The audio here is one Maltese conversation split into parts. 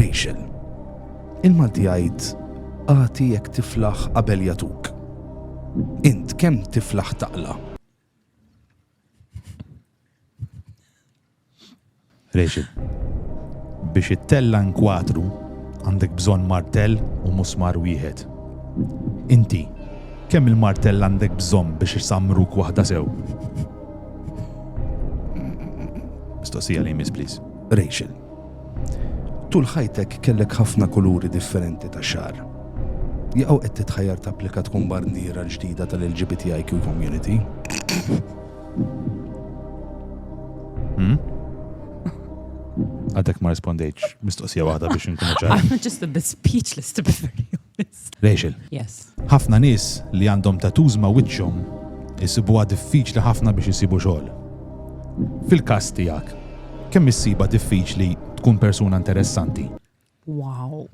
Rachel. Il-Malti jgħid agħti jekk tiflaħ qabel jagħtuk. Int kemm tiflaħ taqla'? Rachel. Biex it-tella nkwatru għandek bżonn martell u musmar wieħed. Inti, kemm il-martell għandek bżonn biex isamruk waħda sew? Mistoqsija li jmiss, please. Rachel. Tul ħajtek kellek ħafna kuluri differenti ta' xagħar. Jaqgħu qed titħajjar tapplika tkun barniera l-ġdida tal-LGBTIQ community? Hmm? Għadek ma rispondejċ mistoqsija waħda biex nkun ċar. I'm just a bit speechless to be very honest. Rachel, Yes. Ħafna nies li għandhom tattoos ma' wiċċhom isibuha diffiċli ħafna biex isibu xogħol. Fil-każ tiegħek, kemm issibha diffiċli tkun persuna interessanti? Wow.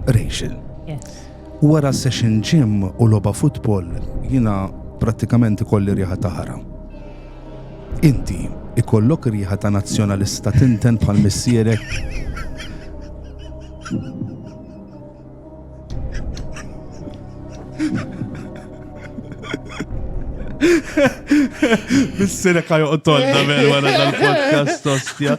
Rachel. Yes. Wara session gym u logħba futbol jiena prattikament ikolli riħa ta' ħara. Inti ikollok riħa ta' nazzjonalista tinten bħal missierek? Bissirek ħajoqtolna minn wara dal-podcast, ostja.